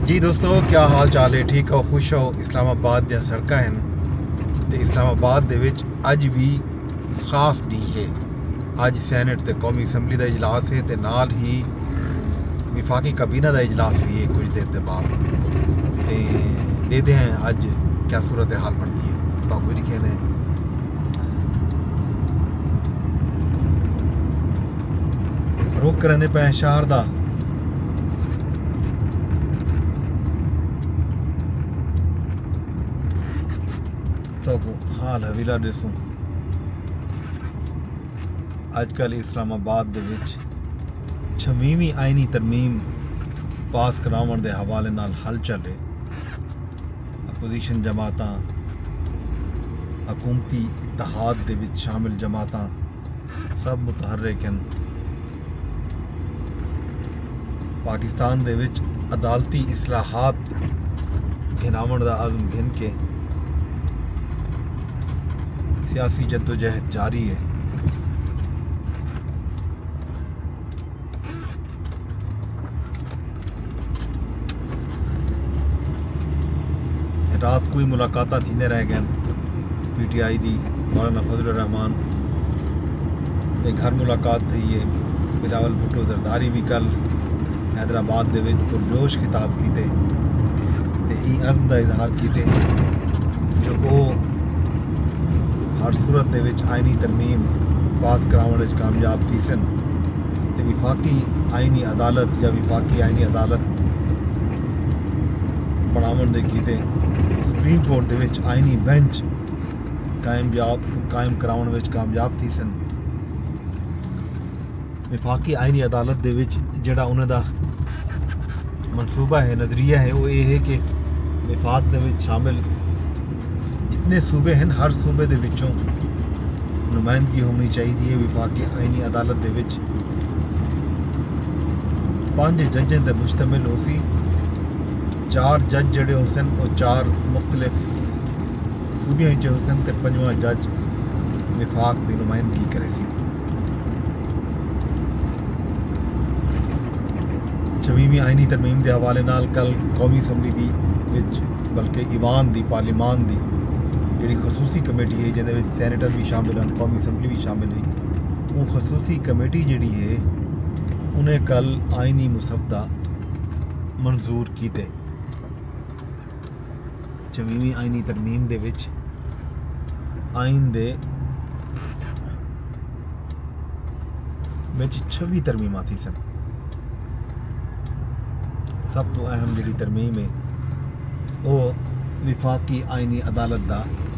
جی دوستو کیا حال چال ہے ٹھیک ہو خوش ہو اسلام آباد دیا سڑکہ ہیں تے اسلام آباد دے وچ اج بھی خاص دی ہے اج سینٹ تے قومی اسمبلی دا اجلاس ہے تے نال ہی وفاقی کبینہ دا اجلاس بھی ہے کچھ دیر دے بعد تے دے دے ہیں اج کیا صورت حال بن دی ہے تو کوئی نہیں کہنے ہیں رخ کریندے پئے ہیں شہر دا تو حال حویلہ ڈیسوں اج کل اسلام آباد دے وچ چھویویں آئینی ترمیم پاس کراون دے حوالے نال حل چل رہے اپوزیشن جماعتاں حکومتی اتحاد دے وچ شامل جماعتاں سب متحرک ہن۔ پاکستان دے وچ عدالتی اصلاحات گھناون دا عزم گھن کے سیاسی جدوجہد جاری ہے۔ رات کوئی ملاقاتہ تھیندے رہ گئے پی ٹی آئی دی مولانا فضل الرحمان دے گھر ملاقات تھی ہے بلاول بھٹو زرداری بھی کل حیدرآباد دے وچ پرجوش خطاب کیتے تے ای عزم دا اظہار کیتے جو وہ ہر صورت دے وچ آئینی ترمیم پاس کراوݨ وچ کامیاب تھیسن تے وفاقی آئینی عدالت یا وفاقی آئینی عدالت بݨاوݨ دے کیتے سپریم کورٹ دے وچ آئینی بینچ قائم کراوݨ وچ کامیاب تھیسن وفاقی آئینی عدالت دے وچ جیڑھا انہاں دا منصوبہ ہے نظریہ ہے وہ یہ ہے کہ وفاق دے وچ شامل جتنے صوبے ہیں ہر صوبے دے وچوں نمائندگی ہونی چاہیے ہے وفاقی آئینی عدالت دے وچ پانچ ججیں تے مشتمل ہو سی چار جج جڑے ہو سن وہ چار مختلف صوبیاں ہی چاہو سن تے پنجواں جج وفاق دی نمائندگی کرے سی چھویویں آئینی ترمیم دے حوالے نال کل قومی اسمبلی دی وچ بلکہ ایوان دی پارلیمان دی جڑی خصوصی کمیٹی ہے جیندے وچ سینیٹر بھی شامل ہیں قومی اسمبلی بھی شامل ہے وہ خصوصی کمیٹی جڑی ہے انہیں کل آئینی مسودہ منظور کیتے چویویں آئینی ترمیم دے وچ آئین دے وچ چھوی ترمیماں تھی سن سب تو اہم جڑی ترمیم ہے او وفاقی آئینی عدالت دا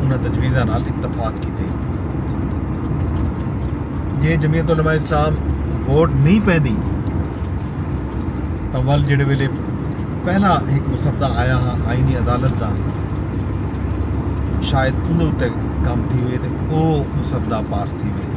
انہاں تجویزاں نال اتفاق کیتے۔ جے جمعیت علماء اسلام ووٹ نہیں پیندی تاں ول جڑے ویلے پہلا ایک مسودہ آیا ہا آئینی عدالت دا شاید انہاں اتے کام تھی ہوئے تے او مسودہ پاس تھی ہوئے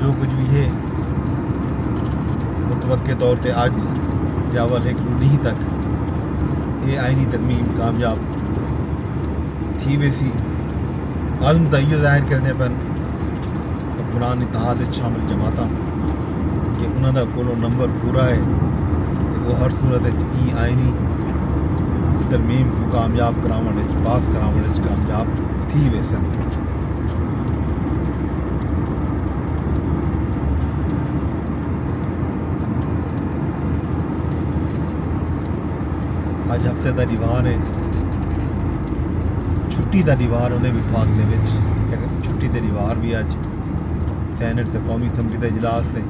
جو کچھ بھی ہے متوقع طور تے آج یا ول ایک لوڈی تک یہ آئینی ترمیم کامیاب تھی ویسی عزم دا ایو ظاہر کردے پن حکمران اتحاد وچ شامل جماعتاں کہ انہاں دا کولو نمبر پورا ہے تے او ہر صورت وچ ای آئینی ترمیم کو کامیاب کراوݨ وچ پاس کراوݨ وچ کامیاب تھی ویسن اج ہفتے دا دیوار ہے چھٹی دا دیوار ہوندے وفاق دے وچ لیکن چھٹی دے دیوار بھی اج سینٹ تے قومی اسمبلی دا اجلاس تے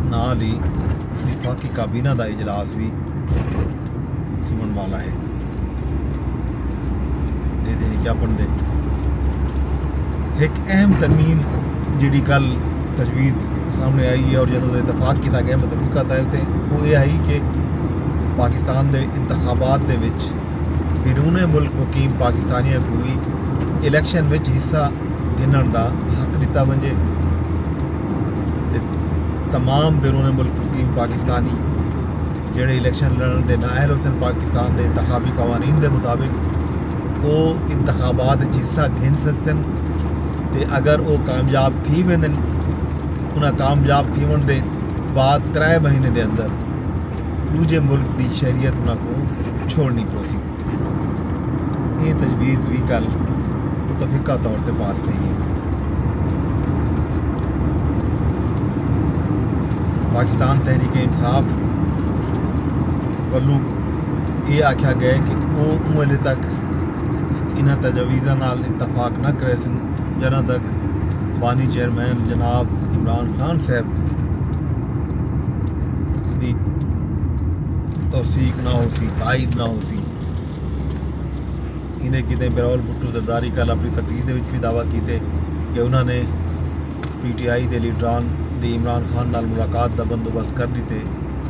نال ہی وفاقی کابینہ دا اجلاس بھی تھیون والا ہے ایک اہم ترمیم جیڑی کل تجویز سامنے آئی ہے اور جدوں اتفاق کیتا گیا متفقہ طور تے وہ یہ آئی کہ پاکستان دے انتخابات دے وچ بیرون ملک مقیم پاکستانیاں کو بھی الیکشن وچ حصہ گھنن دا حق ڈتا ونجے تے تمام بیرون ملک مقیم پاکستانی جیڑھے الیکشن لڑن دے نااہل ہوسن پاکستان دے انتخابی قوانین دے مطابق او انتخابات اچ حصہ گھن سگسن تے اگر او کامیاب تھی ویندن انہاں کامیاب تھیونڑ دے بعد ترے مہینے دے اندر ڈوجھے ملک دی شہریت انہاں کوں چھوڑنی پوسی۔ اے تجویز وی کل متفقہ طور تے پاس تھئی اے۔ پاکستان تحریک انصاف ولوں اے آکھیا گئے کہ او اوں ویلے تک انہاں تجاویزاں نال اتفاق نہ کریسن جدوں تک بانی چیئرمین جناب عمران خان صاحب دی توثیق نہ ہو سی تائید نہ ہو سی ایندے کیتے بلاول بھٹو زرداری کل اپنی تقریر دے وچ وی دعوی کیتے کہ انہاں نے پی ٹی آئی دے لیڈران دی عمران خان نال ملاقات دا بندوبست کر ڈیتے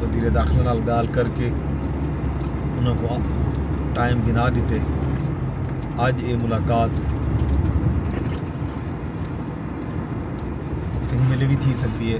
وزیر داخلہ نال گال کر کے انہاں کو ٹائم گھنا ڈیتے اج اے ملاقات کہیں ویلے وی تھی سکدی ہے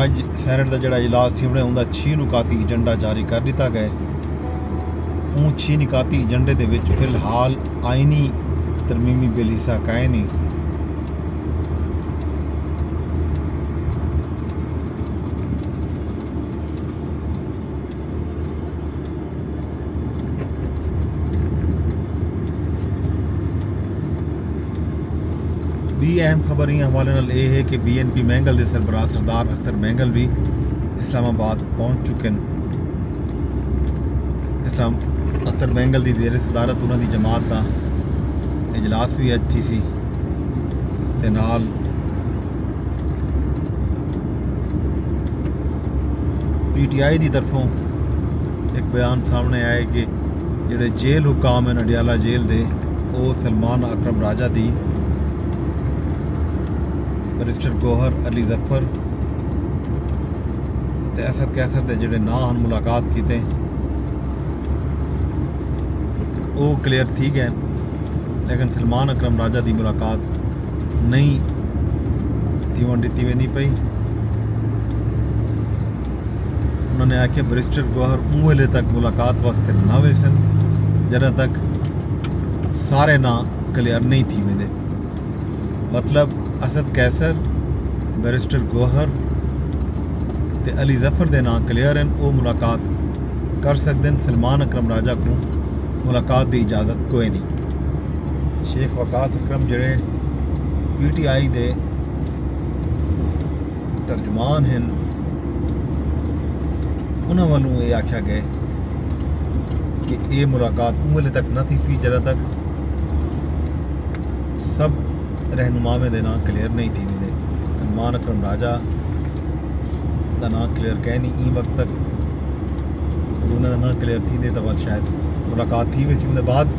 اج سینیٹ دا جڑا اجلاس تھیوݨے اوندا چھی نکاتی ایجنڈا جاری کر ݙتا ڳئے اوں چھی نکاتی ایجنڈے دے وچ فی الحال آئینی ترمیمی بل حصہ کائے نہیں بی اہم خبر ایں حوالے نال اے ہے کہ بی این پی مینگل دے سربراہ سردار اختر مینگل وی اسلام آباد پہنچ چکے ہیں اسلام اختر مینگل دی زیر صدارت انہاں دی جماعت دا اجلاس بھی اج تھی سی تے نال پی ٹی آئی دی طرفوں ایک بیان سامنے آئے کہ جڑے جیل حکام ہیں نڈیالہ جیل دے او سلمان اکرم راجہ دی برسٹر گوہر علی ظفر تے اثر کیسر دے جڑے نا ہن ملاقات کیتے ہیں او کلیئر تھی گئے لیکن سلمان اکرم راجہ دی ملاقات نہیں تیون ڈتی ویندی پئی انہوں نے آکھیا بریسٹر گوہر اوں ویلے تک ملاقات واسطے نہ ویسن جدہ تک سارے نہ کلیئر نہیں تھی ویندے مطلب اسد قیصر بریسٹر گوہر تے علی ظفر دے نہ کلیئر ہیں او ملاقات کر سکدن سلمان اکرم راجہ کو ملاقات دی اجازت کوئی نہیں شیخ وقاص اکرم جیڑھے پی ٹی آئی دے ترجمان ہیں انہاں والوں یہ آکھیا گئے کہ اے ملاقات اوں ویلے تک نہ تھی سی جدہ تک سب رہنماویں دے نام کلیئر نہیں تھی دے انمان اکرم راجہ دا نام کلیئر کہہ نہیں این وقت تک انہاں دا نام کلیئر تھی دے تو شاید ملاقات تھی ویسی انہاں بعد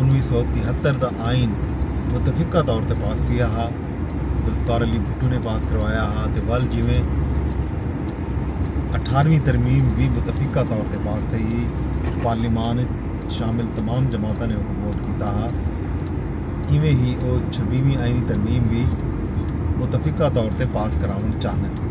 انویہہ سو تہتر دا آئین متفقہ طور تے پاس تھیا ہا، ذوالفقار علی بھٹو نے پاس کروایا ہا تے ول جیویں اٹھارویں ترمیم وی متفقہ طور تے پاس تھئی ہئی، پارلیمان اچ شامل تمام جماعتاں نے اوکوں ووٹ کیتا ہا، ایویں ہی او چھبیہویں آئینی ترمیم وی متفقہ طور تے پاس کراوݨ چاہندن۔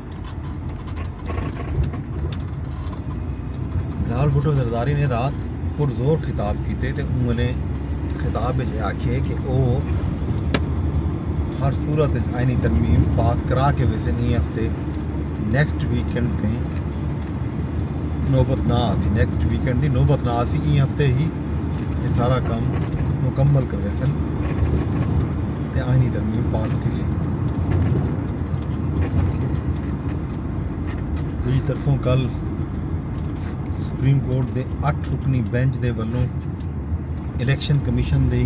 لال بھٹو زرداری نے رات پرزور خطاب کیتے تے انہوں نے خطاب وچ یہ آکھیے کہ او ہر صورت وچ آئینی ترمیم پاس کرا کے ویسے نہیں ہفتے نیکسٹ ویکنڈ تھیں نوبت نہ آسی نیکسٹ ویکنڈ دی نوبت نہ آسی این ہفتے ہی یہ سارا کام مکمل کر ویسن تے آئینی ترمیم پاس تھی سی دی طرفوں کل سپریم کورٹ دے اٹھ رکنی بینچ دے ولوں الیکشن کمیشن دی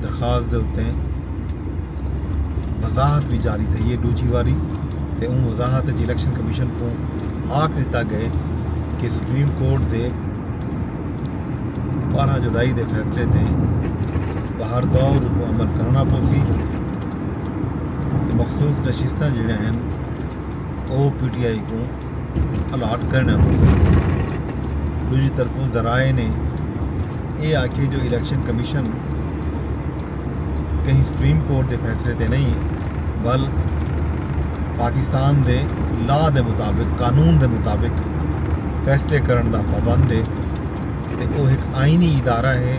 درخواست دے اتے وضاحت بھی جاری تھی ہے ڈوجھی واری تے اون وضاحت جی الیکشن کمیشن کو آکھ دیتا گئے کہ سپریم کورٹ دے بارہ جولائی دے فیصلے تے باہر دور کو عمل کرنا پوسی مخصوص نشستاں جیڑھیاں ہن او پی ٹی آئی کوں الاٹ کرنڑ پڑسن دوجی طرفوں ذرائع نے اے آکھے جو الیکشن کمیشن کہیں سپریم کورٹ دے فیصلے تے نہیں بل پاکستان دے لا دے مطابق قانون دے مطابق فیصلے کرنڑ دا پابند ہے تے او ہک آئینی ادارہ ہے